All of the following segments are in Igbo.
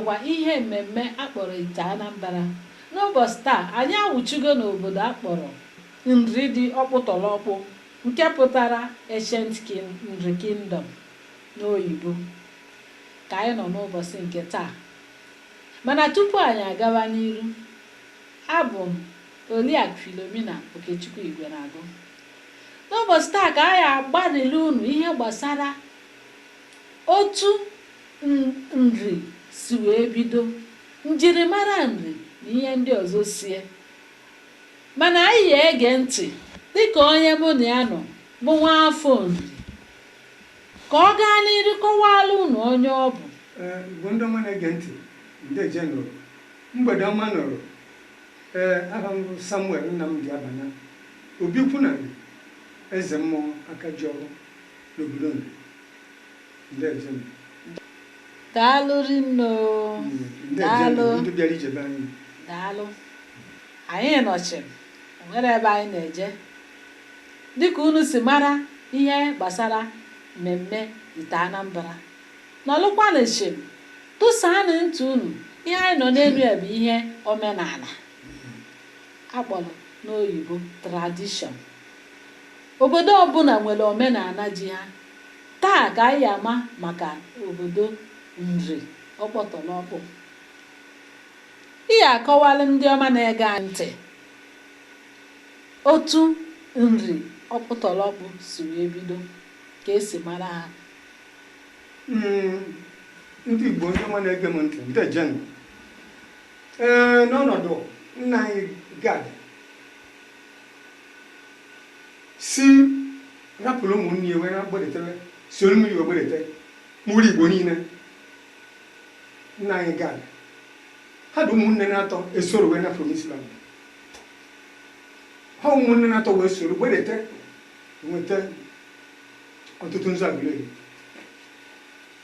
bụkwa ihe mmemme akpọrọ ite anambra n'ụbọchị taa anyị awụchigo n'obodo akpọrọ nri dị ọkpụtọrọkpụ nke pụtara Ancient Nri Kingdom n'oyibo, ka anyị nọ n'ụbọchị nke taa. Mana tupu anyị agawa n'iru, abụ m Oriakụ Philomena Okechukwu Igwenagụ. N'ụbọchị taa ka anyị agbarịlụ unu ihe gbasara otu Nri si wee bido, njirimara Nri na ihe ndị ọzọ sie. Mana anyị ya ege ntị dịka onye mụ na ya nọ bụ nwaafọ Nri ka ọ gaa n'iru kọwaara unu onye ọ bụ. Ee, Igbo ndị ọma na-ege ntị, ndeje nụ o. Mgbede ọma nụ o. Ee, aha m bụ Samuel Nnamdi Abana, Obi Ukwu na Nri, Eze Mmụọ Akajiọfọ n'obodo Nri. Daalụ rinne o. Daalụ. Ndị bịara ije be anyị. Daalụ. Anyị nọ chịm, o nwere ebe anyị na-eje. Dịka unu si mara ihe gbasara mmemme Ite Anambra, nọlụkwanụ chịm, tụsaanụ ntị unu. Ihe anyị nọ n'elu ya bụ ihe omenala a kpọrọ n'oyibo tradition. Obodo ọbụla nwere omenala ji ha. Taa ka anyị ama maka obodo Nri Ọkpụtọlọkpụ. Ị ya akọwalụ ndị ọma na-ege ntị otu Nri Ọkpụtọlọkpụ si wee bido, ka e si mara ha? Mm, ndị Igbo ndị ọma na-ege m ntị, ndejenụ. Ee, n'ọnọdụ nna anyị Gad, si rapụrụ ụmụnne ya wee na-agbadete soro mmiri wee gbadete mụrụ igbo niile nna anyị gad ha dị ụmụnne na-atọ esoro wee nafụ n'israel ha ụmụnne na-atọ wee soro gbadete nweta otutunzu agụleri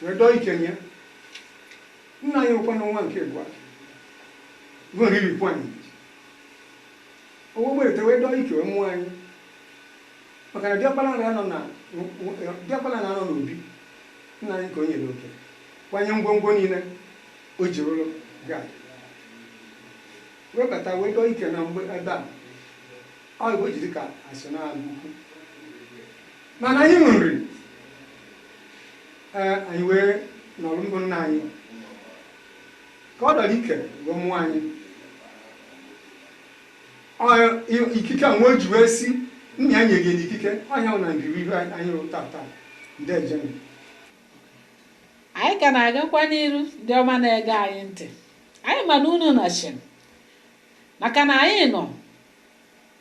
wee dọọ ikenye nna anyị ukwu nwa nke abụọ bụ nri ifikwuanim O wee gbedete wee dọọ ike wee mụọ anyị maka na diọkpara na-anọ na diọkpara na-anọ n'obi nna anyị ka o nyere oke kwanye ngwongwo niile o ji rụrụ gad wee bata wee dọọ ike na mgbe ebe a ọ igbo ji dịka asị na agụkwu mana anyị nwe nri ee anyị wee nọrọ mbụ nna anyị Ka ọ dọrọ ike wee mụọ anyị ikike anwa o ji wee si nna ya nyere ya ikike ọ nya na ngiri ihu anyị rụ taa taa ndeeje anyị ka na-agakwa n'iru ndị ọma na-ege anyị ntị anyị ma na unu nọchiri maka na anyị nọ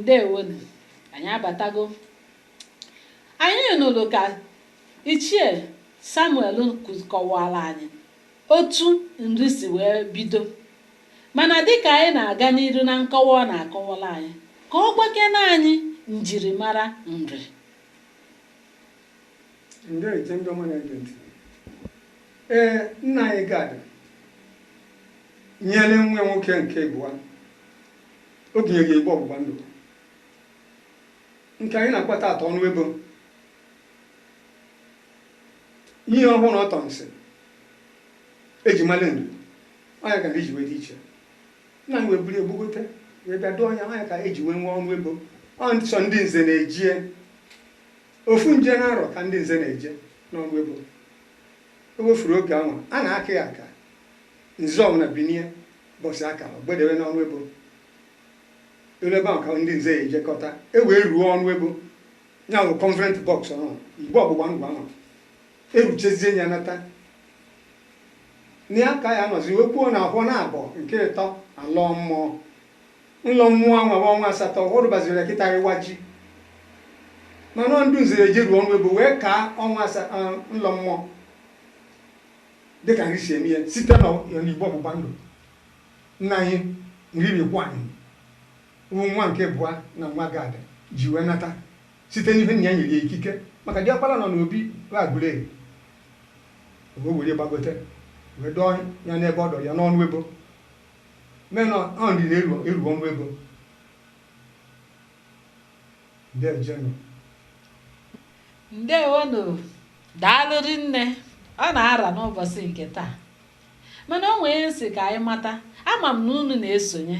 ndewonu anyị abatago anyị nụrụ ka ichie samuel kọwara anyị otu nri si wee bido mana dịka anyị na-aga n'iru na nkọwa ọ na-akọwara anyị ka ọ gwakene anyị njirimara nri ndeeje ndị ọma na-ege ntị ee nna anyị gad nyere nwa nwoke nke ịbụa o bunyere igbe ọgbụgba ndụ nke anyị na-akpọ tata ọnụ ebo ihe ọhụrụ ọtọnsị eji mara nri ọ nya ka nri ji wee dị iche nna anyị wee buru ya gbagote wee bịa dọọ nya ọ nya ka eji wee nwee ọnụ ebo ọ sọ ndị nze na-eje ya Ofu nje n'arọ ka ndị Nze na-eje n'ọnụ ebo. E wefuru oge anwa, a na-aka ya aka, Nze ọbụla binie ụbọsị a kara, o gbedewe n'ọnụ ebo. Ọ n'ebe ahụ ka ndị Nze ya ejekọta, e wee ruo ọnụ ebo, ya wụ Covenant Box ọhụrụ, igbe ọgbụgba ndụ anwa. E ruchezie ya nata. Na ya ka a ya anọzi wee kwuo na ahọ na-abọ nke ịtọ a lọọ mmụọ. Nlọ mmụọ anwa bụ ọnwa asatọ ọ rụbaziri ya kịta ịwa ji mana ọ ndị nze ya ejeruo ọnụ ebo wee kaa ọnwa asa eh, nlọ mmụọ dịka nri si eme ya site n'igbe ọgbụgba ndụ nna anyị nri ifikwuanịm bụ nwa nke ịbụa na nwa gad ji wee nata site n'ihe nna ya nyere ya ikike maka diọkpara nọ n'obi agụleri wee were gbagote wee dọọ ya n'ebe ọ dọrọ ya n'ọnụ ebo mee na ọ nri na-eru eru ọnụ ebo ndejenụ ndewonụ daalụ rinne ọ na-ara n'ụbọchị nke taa mana o nwee m sị ka anyị mata ama m na unu na-esonye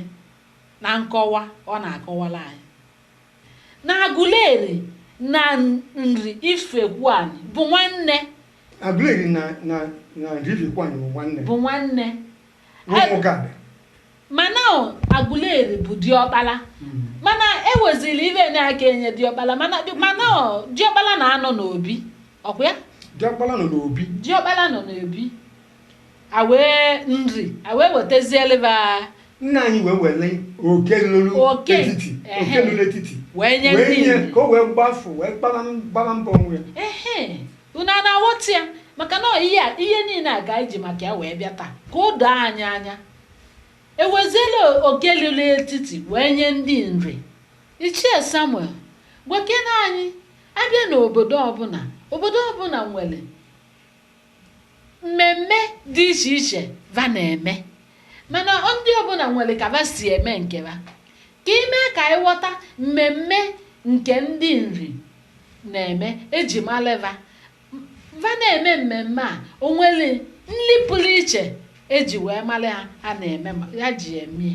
na nkọwa ọ na-akọwara anyị na agụleri na nri ifekwuani bụ nwanne agụleri na na na nri ifekwuani bụ nwanne bụ nwanne mana agụleri bụ diọkpala hmm. mana ewezili ive na-aka enye diọkpala mana diọkpala na-anọ n'obi ọkwa ya diọkpala nọ n'obi diọkpala nọ n'obi awee nri awee wetazieleba nna anyị wee were oke lulu etiti oke lulu etiti wee nye ka o wee gbafu wee gbara mbọ onwe ya Unu a na-aghọta ya? Maka na ọ ihe a, ihe niile a ka anyị ji maka ya wee bịa taa, ka o doo anyị anya. E weziela oke lulu etiti wee nye ndị nri. Ichie Samuel, gwakena anyị, a bịa n'obodo ọbụla, obodo ọbụla nwere mmemme dị iche iche va na-eme mana ndị ọbụla nwere ka va si eme nke va ka i mee ka anyị ghọta mmemme nke ndị nri na-eme eji malị va va na-eme mmemme a o nwere nri pụrụ iche eji wee mara ha ha na-eme ya ji eme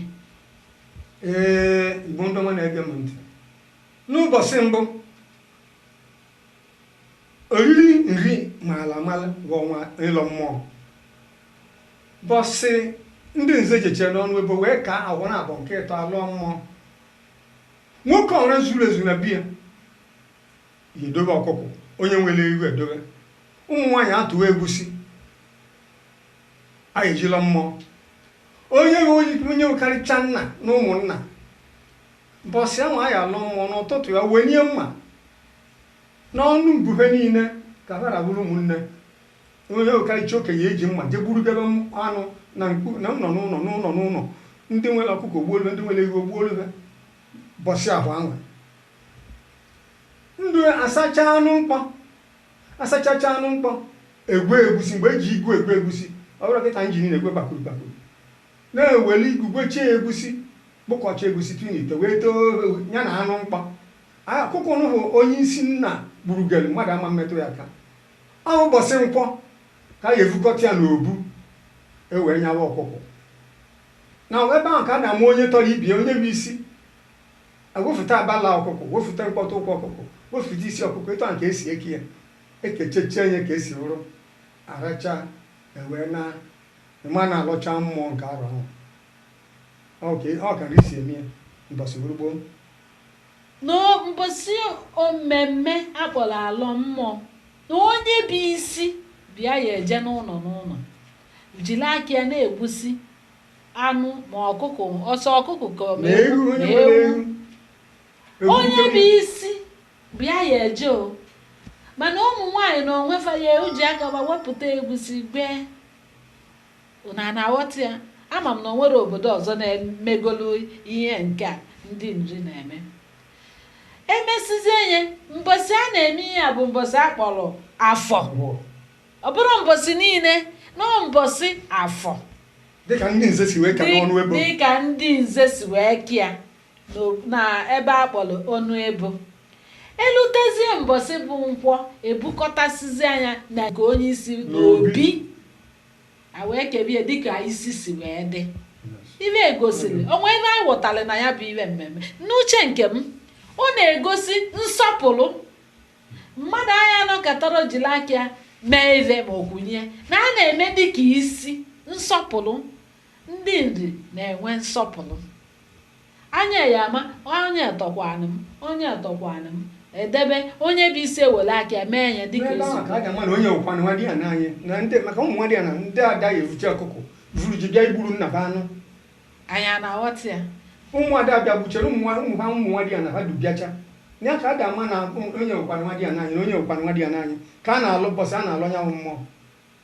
ee igbo ndị ọma na-ege m ntị n'ụbọchị mbụ oriri nri maala mala bụ ọnwa ịlọ mmụọ bọsị ndị nze jechee n'ọnụ ebo wee kaa agwọ na abụọ nke ịtọ a lọọ mmụọ Nwoke ọra zuru ezu na be ya ya edobe ọkụkụ, onye nwere ewu edobe. Ụmụ nwaanyị atụwa egwusi, a ya-eji alọ mmụọ. Onye onye karịcha nna n'ụmụnna, mbọsị ahụ a ya-alọ mmụọ n'ụtụtụ ya wenie mma n'ọnụ mbube niile ka ha ra bụrụ ụmụnne. onye karịcha okenye eji mma je gburugebe anụ na nkpu na ụlọ n'ụlọ n'ụlọ n'ụlọ ndị nwere ọkụkọ o gbuolu fa ndị nwere ewu o gbuolu fa bọsị ahụ anwa ndụ asacha anụ mkpọ asachacha anụ mkpọ egwe egwusi mgbe eji igwe egwe egwusi ọ bụrụ kịta engine na-egwe bakuru bakuru na-eweli igwegwechie egwusi kpụkọcha egwusi tinye n'ite wee too ya na anụ mkpọ ọkụkọ nụ bụ onye isi nna gburugere mmadụ ama-emetụ ya aka Ọ bụ mbọsị nkwọ ka a ga-evukọta ya n'obu, e wee nyawa ọkụkụ. Na ebe ahụ ka a na-ama onye tọrọ ibe ya, onye bụ isi. E wefụta abala ọkụkụ, wefụta mkpọtụ ụkwụ ọkụkụ, wefụta isi ọkụkụ, etu ahụ ka e si eke ya. E kechechee ya ka e si wụrụ, a rachaa, e wee naa, ị ma na a lọcha mmụọ nke arọ ahụ. Ọ ka ọ ka e si eme ya mbọsị wụrụ gboo. Na mbọsị o mmemme a kpọrọ alọ mmụọ, na onye bụ isi bịa ya eje n'ụnọ n'ụnọ jiri aka ya na-egbusi anụ ma ọkụkụ ọ sọ ọkụkụ ka ọ ma ewu. Onye bụ isi bịa ya eje o. Mana ụmụ nwaanyị na onwe fa ya eji aka fa wepụta egwusi gwee. Unu ana-aghọta ya? Ama m na o nwere obodo ọzọ na-emegolu ihe nke a ndị Nri na-eme. E mesịzie ya, mbọsị a na-eme ihe a bụ mbọsị a kpọrọ Afọ. Ọ bụrọ mbọsị niile, na ọ mbọsị Afọ. Dịka ndị Nze si wee ka n'ọnụ ebo. Dịka ndị Nze si wee ka ya. na ebe a kpọrọ ọnụ ebo. E lutezie mbọsị bụ Nkwọ, e bukọtasịzie anụ a na nke onye isi n'obi, a wee kebe ya dịka isi si wee dị. Ife gosiri, o nwee ife anyị ghọtara na ya bụ ife mmemme. N'uche nke m, ọ na-egosi nsọpụrụ. Mmadụ aya anọkatara jiri aka ya mee ife ma ọ kwụnye, na a na-eme dịka isi nsọpụrụ. Ndị Nri na-enwe nsọpụrụ. Anyị ya-ama, Onye tọkwanụ m? Onye tọkwanụ m? Edebe, Onye bụ isi ewere aka ya mee ya dịka o si kwuo. N'ebe ahụ ka a ga-ama na onye wụkwanụ nwa di ana anyị na ndị maka ụmụ nwa di ana ndị ada ya evucha ọkụkụ vuru ji bịa igburu nna fa anụ Anyị ana-aghọta ya? ụmụ ada bịa gbuchere ụmụ nwa- ụmụ ha ụmụ nwa di ana ha dụ bịacha ya ka a ga-ama na onye wụkwanụ nwa di ana anyị na onye wụkwanụ nwa di ana anyị ka a na-alọ bọsị a na-alọ nya wụ mmụọ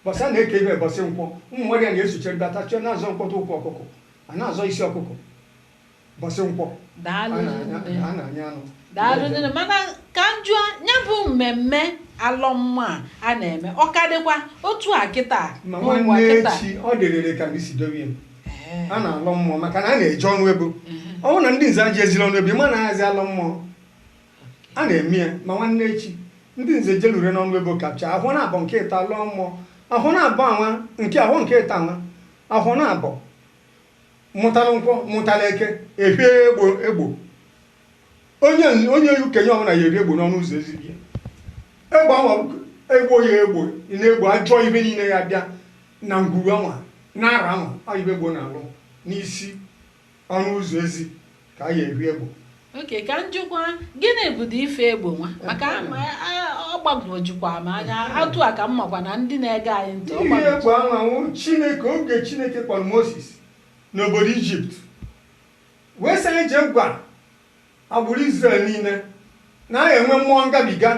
Bọsị a na-eke ife bọsị nkwọ, ụmụ nwa di ana esochere batachie na-azọ mkpọtụ ụkwụ ọkụkụ, a na-azọ isi ọkụkụ bọsị nkwọ, a na-anya anụ. daalụ nne mana ka m jụọ ya bụ mmemme alọ mmụọ a na-eme ọ ka dịkwa otu a kịta Ma nwanne echi ọ dịrịrị ka ndị isi dowe ya. Ee, a na-alọ mmụọ maka na a na-eje ọnụ ebo ọ bụrụ na ndị nze ejeziri ọnụ ebo ị ma na a yazị alọ mmụọ A na-eme ya ma nwanne echi, ndị nze jelure n'ọnụ ebo kapụchaa, ahọ naabọ nke ịtọ a lọọ mmụọ, ahọ naabọ anwa nke ahọ nke ịtọ anwa, ahọ naabọ mụtalụ nkwọ mụtalụ eke e hie egbo. Onye onye okenye ọbụla ya eri egbo n'ọnụ ụzọ ezi be ya. Egbo anwa egbo ya egbo na-egbo ajọ ife niile ya-abịa na ngwuru anwa na arọ anwa ọ ife egbo na-alụ n'isi Ọnụ ụzọ ezi ka a ya ehi egbo. Ok, ka m jụkwa, gịnị bụdị ife egbo nwa? Maka ọ gbagwojukwa m anya atụ a ka m makwa na ndị na-ege anyị ntị Ihi egbo anwa wụ Chineke oge Chineke kpọrọ Moses n'obodo Ijipt wee sị ya jee gwa agbụrụ Izrel niile na a ya-enwe mmụọ ngabiga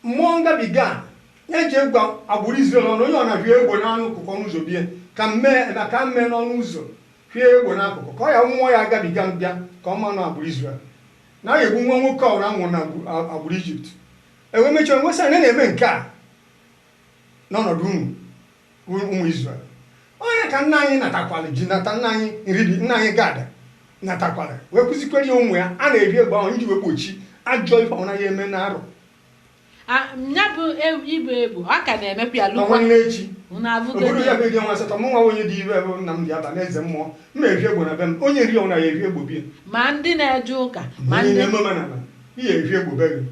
Mmụọ ngabiga nya jee gwa agbụrụ Izrel ọnụ, onye ọna hie egbo n'akụkụ ọnụ ụzọ bie, ka m mee ebe a, ka m mee n'ọnụ ụzọ hie egbo n'akụkụ, ka ọ ya mmụọ ya gabiga bịa ka ọ manụ agbụrụ Izrel, na a ya-egbu nwa nwoke ọbụla a mụrụ na agbụrụ Ijipt. E wee mechie wee sị ha, na na-eme nke a n'ọnọdụ unu. bụ ụmụ Izrel. Ọ ya ka nna anyị natakwara ji nata nna anyị Nri dị nna anyị Gad natakwara wee kụzikwere ya ụmụ ya a na-evi egbo ahụ iji wee gbochie ajọ ife ọna ya eme na arụ A- ya bụ ivi egbo a ka na-emekwa ya na lụkwa nwanne echi unu abụgo obodo ya bụ eri ọnwa asatọ mụ nwa onye dị ire bụ nna m dị aba na eze mmụọ m ya evi egbo na be m onye ọwụna ya evi egbo bie ma ndị na-eje ụka ma ndị na-eme omenala i ya evi egbo be gị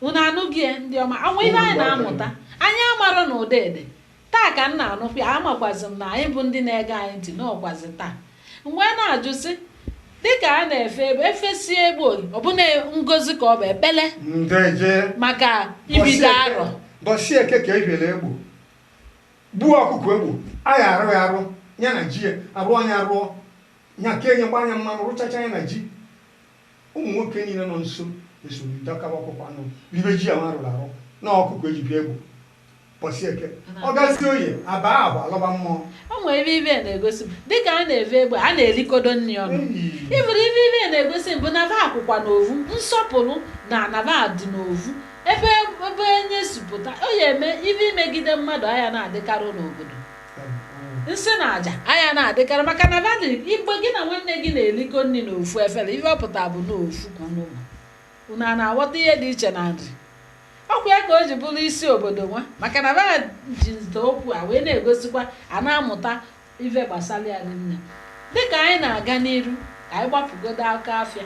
unu anụgo ya ndị ọma ọ wụ ive anyị na-amụta anyị amarọ na ụda ede taa ka m na-anụkwa ya amakwazi m na anyị bụ ndị na-ege anyị ntị n'ọkwazi taa m wee na-ajụ sị dịka a na-efe egbo efesie egbo ọ bụ na ngozi ka ọ bụ ekpele ndeje maka ibido arọ bọsị Eke ka e viela egbo gbuo ọkụkọ egbo a ya arụ ya arụ ya na ji ya arụ nya arụọ nya ka enye gbanye mmanụ rụchacha ya na ji Ụmụ nwoke niile nọ nso esoro dọkaba ọkụkọ anụ, ribe ji ahụ a rụrụ arụ na ọkụkọ e ji vie egbo bọsị Eke. Ọ gazie oye, a baa agba, a lọba mmụọ. O nwere ive ive na-egosi m dịka a na-eve egbo a na-erikọdo nri ọnụ Eyi! ịbụrụ ive ive na-egosi m bụ na ba akwụkwa n'ovu nsọpụrụ na anaba dị n'ovu ebe ebe onye si pụta o ya eme ive imegide mmadụ aya na-adịkarị n'obodo nsị na aja aya na-adịkarị maka na vali igbe gị na nwanne gị na-erikọ nri na ofu efere ive ọ pụta bụ na ofu ka unu ma unu a na-aghọta ihe dị iche na Nri ọkwa ya ka o ji bụrụ isi obodo nwa maka na ba ji nta okwu a wee na-egosikwa a na-amụta ife gbasara ya nne dịka anyị na-aga n'iru ka anyị gbapụgodo aka afịa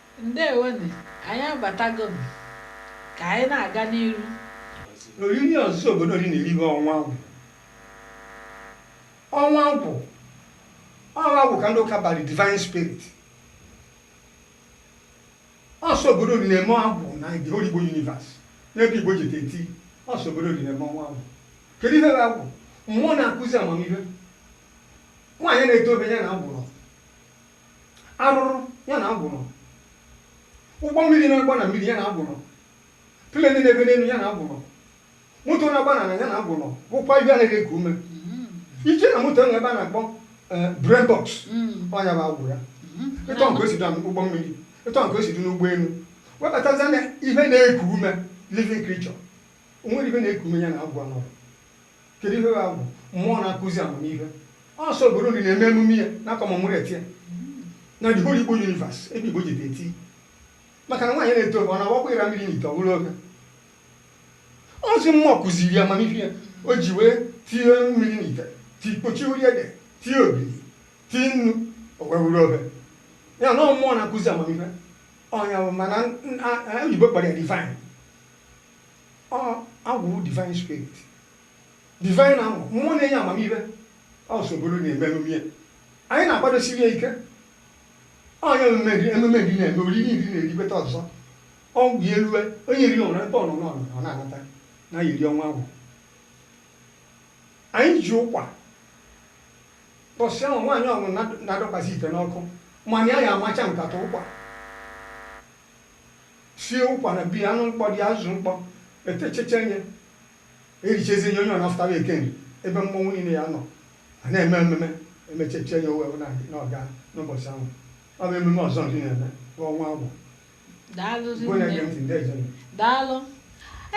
Ndewo nụ, anyị abatago nụ. Ka anyị na-aga n'iru. N'oriri ọzọ obodo Nri na-eri bụ Ọnwa Agwụ, Ọnwa Agwụ, ọ bụ Agwụ ka ndị ụka bara Divine Spirit. Ọ sọ obodo Nri na-eme Ọnwa Agwụ na the whole Igbo universe. N'ebe Igbo ji eti, ọ sọ obodo Nri na-eme Ọnwa Agwụ. Kedu ihe bụ Agwụ? Mmụọ na-akụzi amamihe. Nwaanyị na-edobe ya na Agwụ. Arụrụ ya na agwụ nọ. Ụgbọ mmiri na-agba na mmiri ya na agwụ nọ. Pleni na-efe n'elu ya na agwụ nọ. Moto na-agba n'ala ya na agwụ nọ. Bụkwa ihe anaghị eku ume. I je na moto e nwe ebe a na-akpọ brain box ọ nya bụ agwụ ya. Etu ọ ka o si dị ụgbọ mmiri, etu ọ ka o si dị n'ụgbọelu. Wee batazia na ihe na-eku ume, living creature. O nwere ihe na-eku ume ya na agwụ anọrọ. Kedu ihe ya bụ mmụọ na-akụzi amamihe? Ọ sọ obodo nri na-eme emume ya na-commemorate ya na the whole Igbo universe ebe Igbo jide eti maka na nwaanyị na-ete ofe ọ na-awakwa ịra mmiri n'ite ọ bụrụ ofe ozi mmụọ kụziri ya amamihe ya o ji wee tinye mmiri n'ite ti kpochie uri ede tie ogiri tie nnu o wee wuru ofe ya na mmụọ na-akụzi amamihe ọ nya mana oyibo kpọrọ ya divine Ọ agwụ wụ divine spirit. Divine amụ, mmụọ na-enye amamihe. Ọ sọ obodo na-eme emume ya. Anyị na-akwadosiri ya ike. Ọ nya emume nri, emume nri na-eme, oriri nri na-eribeta ọzọ. Oge ya elue, onye nri ọbụna ebe ọ nọ n'ọnụ ọ na-anata na ya eri ọnwa agwụ. Anyị ji ụkwa mbọsị ahụ nwaanyị ọbụna adọkwasị ite n'ọkụ mana ya ya amacha nkata ụkwa. sie ụkwa na bi anụ mkpọ dị azụ mkpọ etechecha nye erichezie nye onye ọ na-afụta na eke nri ebe mmọnwụ niile ya-anọ a na-eme ememe emechechie nye owe na n'ọga n'ụbọchị ahụ ọ bụ ememe ọzọ nri na-eme bụ ọnwa agwụ daalụ bụ onye gee ntị ndị eze daalụ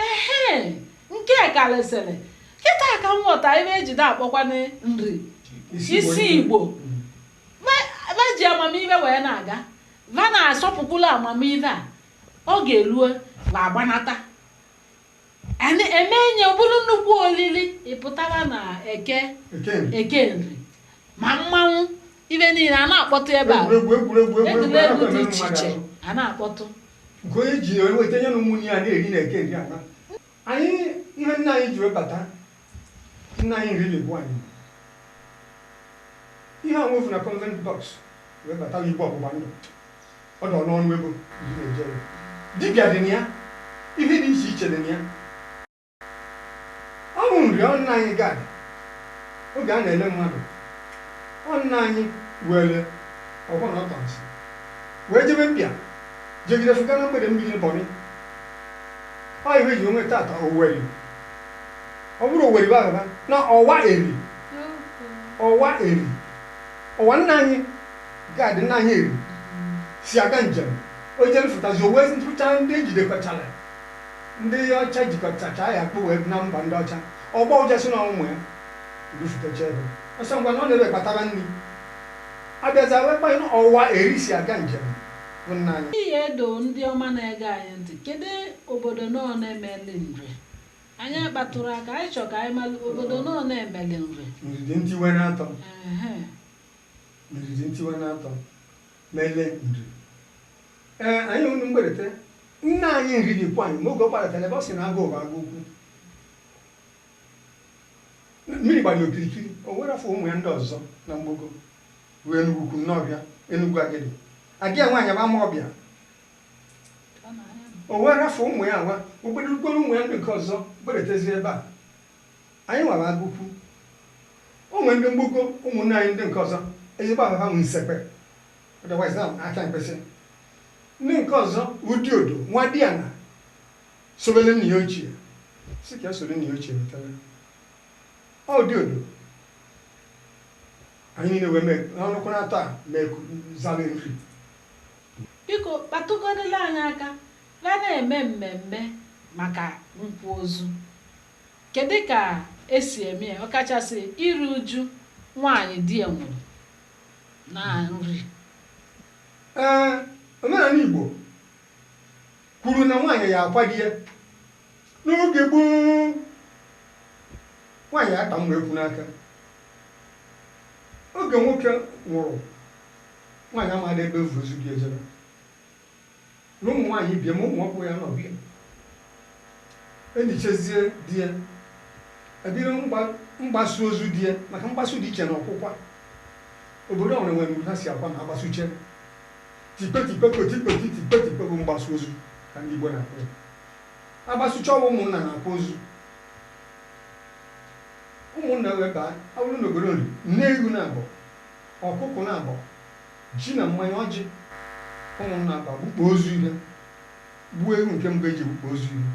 ehe nke karịsịrị kịta ka m ghọta ibe e ji akpọkwanụ nri isi igbo va ji amamihe wee na-aga va na-asọpụkwula amamihe va oge erue va agbanata a na-eme nya ọ bụrụ nnukwu olili ịpụtara na eke eke nri ma mmanwụ ibe niile a na-akpọtụ ebe a egwuregwu dị iche iche a na-akpọtụ nke onye ji weta nye na ụmụnne ya na-eri na eke nri ana Anyị ihe nna anyị ji wee bata nna anyị nri na-agwa anyị ihe a nwefu na covenant box wee bata igbe ọgbụgba ndụ ọ dọ n'ọnụ ebo ndị na-eje ya. dibịa dị na ya ihe dị iche iche dị na ya ọ bụ nri ọ nna anyị Gad oge a na-ele mmadụ ọ nna anyị were ọfọ na ọtọnsị wee jebe mpịa jegide fụga na mgbele mmiri Bonny Ọ ife ji onwe tata Oweri. Ọ bụrọ Oweri bụ agaba na ọwa eri. Ọwa eri. Ọwa nna anyị agadi nna anyị Eri si aga njem. O jere fụtazi owe ntụcha ndị ejidekọchara ndị ọcha jikọtacha ya kpụ wee na mba ndị ọcha. Ọgba ụja si na ụmụ ya dufutacha ebe. Ọ sị ngwa na ọ na-ebe kpatara nri. Abịazi wee kpanye na ọwa eri si aga njem. bụ nna anyị. Ihe edo ndị ọma na-ege anyị ntị, kedu obodo n'one meli Nri? Anyị kpatụrụ aka, anyị chọ ka anyị malụ obodo n'one meli Nri. Nri dị ntiwe na atọ Ehe. Nri dị ntiwe na atọ mele Nri ee anyị unu mgberete nna anyị Nri Ifikwuanịm oge ọ gbadatara ebe ọ sị na agụ bụ agụ ukwu mmiri gbara ya okirikiri o wee rafụ ụmụ ya ndị ọzọ na mgbago bụ Enugwu Ukwu Nnọọfịa Enugwu Agidi ada ya nwaanyị bụ Amaọbịa o wee rafụ ụmụ ya nwa okpedurukpere ụmụ ya ndị nke ọzọ beretezie ebe a anyị nwa bụ Agụkwu o nwere ndị mgbago ụmụnne anyị ndị nke ọzọ ezigbo ababa m Nsekpe otherwise na Akamkpịsị ndị nke ọzọ bụ Diodo nwadịana sobere nna ya ochie si ka ya soro nna ya ochie wetara Ọ Diodo anyị niile wee mee ha ọnụkwara atọ a mee zara Nri. Biko kpatụgodịla anyị aka banyere mmemme maka nkwa ozu. Kedụ ka e si eme ya ọkachasị iru uju nwaanyị di ya nwụrụ na Nri? Ee, omenala Igbo kwuru na nwaanyị ya-akwa di ya N'oge gboo, nwaanyị ya-akpa mma ekwu n'aka. Oge nwoke nwụrụ, nwaanyị amadị ebe e vu ozu di ya ejebe. Na ụmụ nwaanyị ibe ya ma ụmụ ọkpụ ya-anọ be ya. E nichezie di ya, e bido mgbasu ozu di ya maka mgbasu dị iche na ọkwụkwa. Obodo ọbụla nwere ụdị ha si akwa na a gbasuche. Tikpe tikpe koti kpoti tikpe tikpe bụ mgbasu ozu ka ndị Igbo na-akpọ ya. a gbasuchaa ọ bụ ụmụnna na-akwa ozu ụmụnna wee baa ọ wụrụ n'obodo Nri nne ewu naabọ ọkụkụ naabọ ji na mmanya ọjị ụmụnna abịa gbukpọ ozu ihe gbuo ewu nke mbụ e ji gbukpọ ozu ihe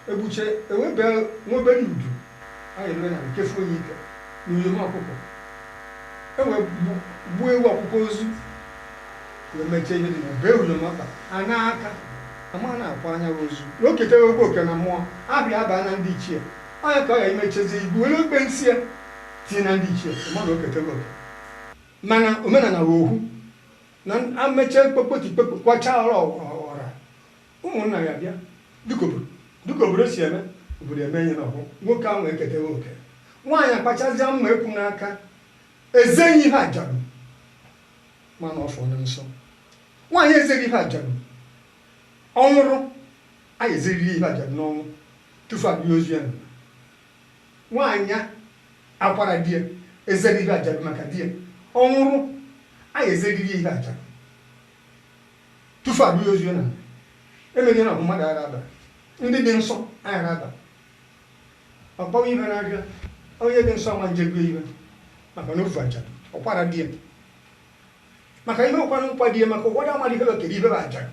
E gbuche e webe nwa obere udu a eruwe na nkefu onye ike na uyom ọkụkọ. E wee gbuo ewu ọkwụkwa ozu wee mechie ihe dị na, bee uyom ọkpa, na aka, a maa na akwaana ya wụ ozu. Na o ketebe oke na mmụọ, abịa abaa na ndị ichie. Ọ ya ka ọ ya imechezie ibu were okpensi ya tinye na ndị ichie, ị ma na o ketewe oke. Mana omenala wụ ohu. Na a mechee kpokpoti kpokpo, kwachaa ọra ọra, Ụmụnna ya bịa dịka obodo dịka obodo si eme, obodo eme ihe n'ọhụ, nwoke ahụ eketeghị oke. Nwaanyị akpachazịa mma ekwu n'aka, eze ihe ajadu ma na ọ fọrọ nsọ. Nwaanyị ezeghị ihe ajadu, ọ nwụrụ, a ya ezeriri ihe ajadu n'ọnwụ tufu a lie ozu ya n'ala. Nwaanyị akwara di ya, ezeghị ihe ajadu maka di ya, ọ nwụrụ, a ya ezeriri ya ihe ajadu. tufu a bịa ozu na emeghị na ọ bụ mmadụ agha aba ndị dị nsọ agha aba ọkpọwa ibe na-abịa onye dị nsọ ma njegwe ibe maka na ọ bụ ajadu ọ kwara di ya maka ihe ụkwanụ nkwa di ya maka ụfọdụ amadị ihe okere ibe bụ ajadu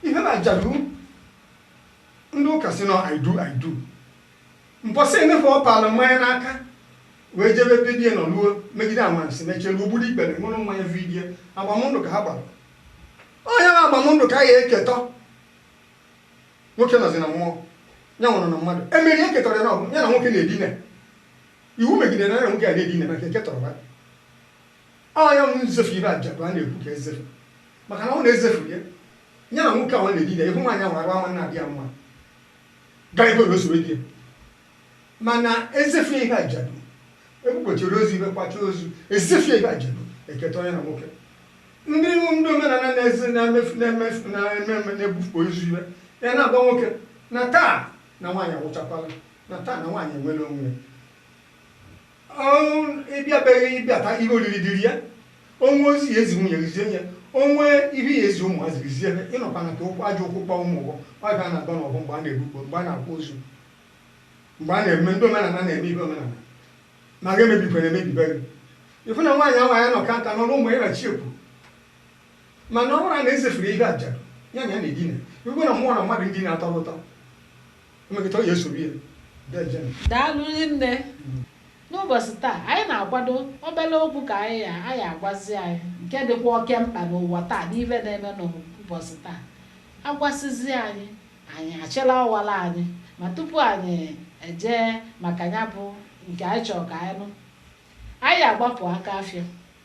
ibe bụ ajadu ndị ụka sị na ọ idol idol Mbọsị emefe ọ paala mmanya n'aka wee jebe be di e nọ luo megide anwansi mechelu o gburu ikpere ṅụrụ mmanya bunye di e agbamndụ ka ha gbara onye ma agbamndụ ka a ya eketọ nwoke nọzi na mmụọ ya nwụrụ na mmadụ emeri eketọrọ ya na ọ bụ ya na nwoke na-edina iwu megidere na ya na nwoke a na-edina maka eketọrọ ba onye m nzefu ibe ajadu a na-ekwu ka ezefu maka na ọ na-ezefu ya ya na nwoke ahụ na-edina ihu nwaanyị ahụ arụ ama na-adị ya mma gaa ebe n'osoro gị mana ezefue ihe ajadu ebukpochiri ozu ibe kwacha ozu ezefue ihe ajadu eketa onye na nwoke ndị iwu ndị omenala na-ebukpo ozu ibe ya na-agwa nwoke na taa na nwaanyị awụchakwala na taa na nwaanyị enwere onwe ya ị bịa be gị ị bịata ihe oriri dị rie ya o nwee ozi ị ya ezi nwunye gị zie ya o nwee ihe ị ya ezi ụmụazị gị zie ị nọkwana ka ụkwụ ajọ ụkwụ kpọọ ụmụ ụgwọ ọbịa a na-agba n'ọgwụ mgbe a na-ebukpo mgbe a na-akwa ozu mgbe a na-eme ndị omenala na-eme ihe omenala ma ga emebikwere emebibe gị ịfụ na nwaanyị ahụ ya anọka nka nọrọ ụmụ ya na chi ekwu mana ọ bụrụ na ezefuru ihe ajadu ya na ya na-edina igwe na mmụọ na mmadụ ndị na-atọ ụtọ Mmekọta ọ ya esoro ya. Daalụ nne. N'ụbọchị taa, anyị na-akwado obere okwu ka anyị ya a ya agwazi anyị nke dịkwa oke mkpa n'ụwa taa n'ife na-eme n'ụbọchị taa. Agwasịzi anyị, anyị achịla ọwara anyị. Ma tupu anyị ejee maka ya bụ nke anyị chọrọ ka anyị nụ, anyị ya agbapụ aka afịa.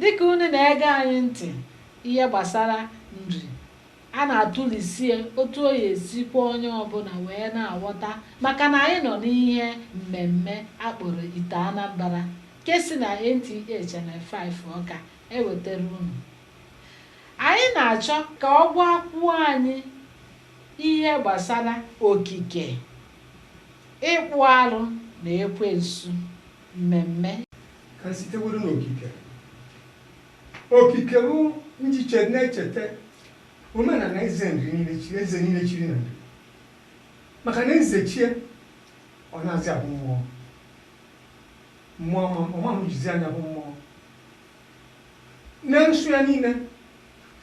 Dịka unu na-ege anyị ntị ihe gbasara Nri, a na-atụlisie otu ọ ya-esi kwe onye ọbụla wee na-aghọta maka na anyị nọ n'ihe mmemme a kpọrọ Ite Anambra nke si na NTA Channel Five Awka ewetara unu. Anyị na-achọ ka ọ gwakwuo anyị ihe gbasara okike, ịkpụ arụ na ekwensu mmemme. Ka m siteworo n'okike. Okike bụ njiche na-echeta omenala eze niile chiri na Nri maka na eze chie ọ na-azị abụ mmụọ ọma jizi anya bụ mmụọ na nsụ ya niile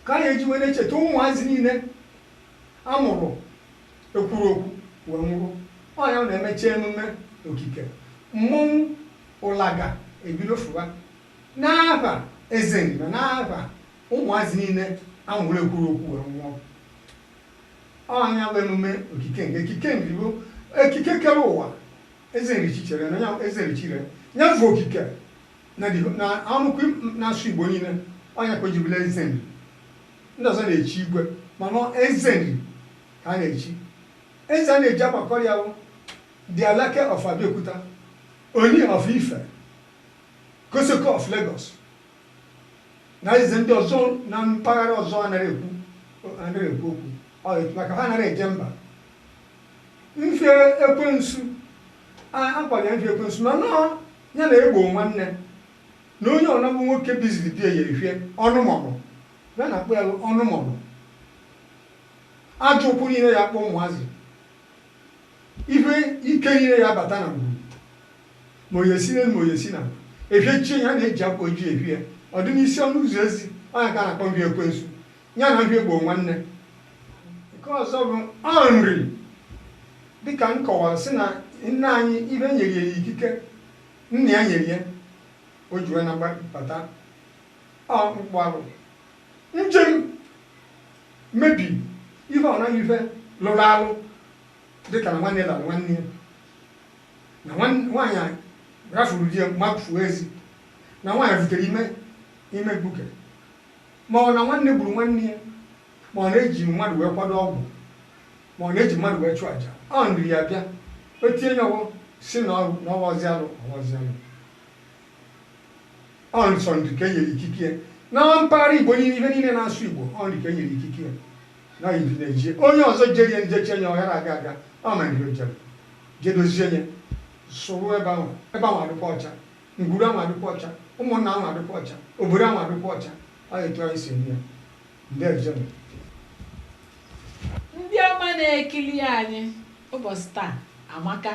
ka a na-eji wee na-echeta ụmụazị niile a mụrụ ekwuru okwu wee nwụrụ. Ọ ya na e mechaa emume okike, mmọnwụ Ụlaga ebido fụwa n'afa Eze Nri na n'afa ụmụazị niile a mụrụ ekwuru okwu wee nwụọ. Ọ ya bụ emume okike nke ekike Nri bụ ekike kere ụwa Eze Nri chichere na ya Eze Nri chire ya bụ okike na ọnụkwu na-asụ Igbo niile ọ ya ka o ji bụrụ Eze Nri. Ndị ọzọ na-echi igwe mana ọ Eze Nri ka a na-echi. Eze a na-eji agbakọrọ ya bụ The Alake of Abeokuta, Ooni of Ife, Kosoko of Lagos na eze ndị ọzọ na mpaghara ọzọ anaghị ekwu anaghị ekwu okwu maka ha anaghị eje mba. Mfie ekwensu a kpọrọ ya mfie ekwensu mana ọ ya na egbo nwanne. na onye ọna bụ nwoke biziri ebi eye ihwe ọnụ mọnụ, ya na-akpọ ya lụ ọnụ mọnụ. Ajọ ụkwụ niile ya akpọ ụmụazị, ihwe ike niile ya abata na ngwuru, ma o ye-esi n'elu ma o ye-esi n'ala. E fiechie ya na-eji akwa ojii efie ya, ọ dị n'isi ọnụ ụzọ ezi, ọ ya ka a na-akpọ mfie ekwensu, ya na mfie egbo nwanne. Nke ọzọ bụ Nri. Dịka m kọwara sị na nna anyị ibe nyere ya ikike. Nna ya nyere ya, o ji wee na-abata ọ mkpụ alụ njem mebi ihe ọ naghị ife lụrụ alụ dịka na nwanne lara nwanne ya na nwaanyị rafuru di ya mafuo ezi na nwaanyị butere ime mkpuke ma ọ na nwanne gburu nwanne ya Ma ọ na-eji mmadụ wee kwado ọgwụ, ma ọ na-eji mmadụ wee chụọ aja, ọ Nri ya-abịa, o tie nye ọwọ sị na ọwazị alụ. Ọ nsọ Nri ka e nyere ikike ya. Na mpaghara Igbo niile ife niile na-asụ Igbo, ọ Nri ka e nyere ikike ya. Na ọ Nri na-eje onye ọzọ jerie nje chie nye ọ ghara aga aga, ọ ma Nri o jere je dozie nye sụrụ ebe ahụ adịkwa ọcha ngwuru ahụ adịkwa ọcha ụmụnna ahụ adịkwa ọcha obodo ahụ adịkwa ọcha ọ etu anyị si eme ya ndị ọma na-ekiri anyị ụbọchị taa amaka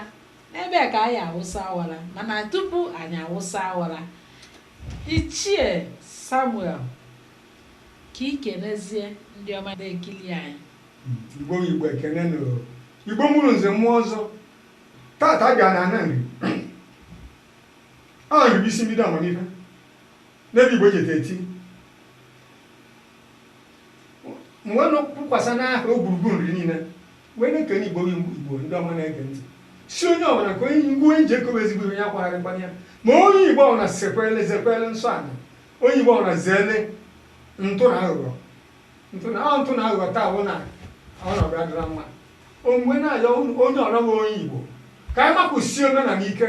n'ebe a ka anyị awụsa awara mana tupu anyị awụsa awara ichie samuel kee ihe ị na-ezi ndị ọma na-ekiri anyị igbo igbo ekenee m unu igbo mụrụ nze mụọ ọzọ tata bịa n'ana nri a nri bụ isi mbido amamife N'ebe Igbo jeta eti m wee na-akwụkwasa n'aha gburugburu nri niile wee na-ekene igbo ndị igbo ndị ọma na-ege ntị sị onye ọbụla ka onye ngwa onye ji ekowe ezigbo ihe onye akwagharịkwana ya ma onye igbo ọbụla sekwele zekwele nsọ ala onye igbo ọbụla zeele ntụ na aghụghọ ntụ na ọ ntụ na aghụghọ taa bụ na ọnọdụ adịrọ mma m wee na-ayọ onye ọbụla bụ onye igbo ka anyị makụsie omenala ike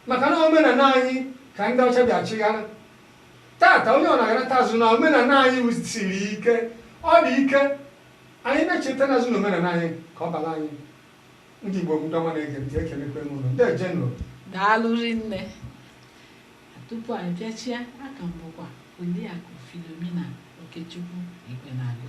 Maka na omenala anyị ka ndị ọcha bịa chịghara. Tata onye ọbụna aghọtazi na omenala anyị siri ike, ọ dị ike. Anyị na-echetazi na omenala anyị ka ọ bara anyị. Ndị Igbo ndị ọma na-ege ntị, ekelekwee m unu. Ndejenụ. Daalụ rinne. Tupu anyị pịachie, aka m bụkwa Oriakụ Philomena Okechukwu Igbenagụ.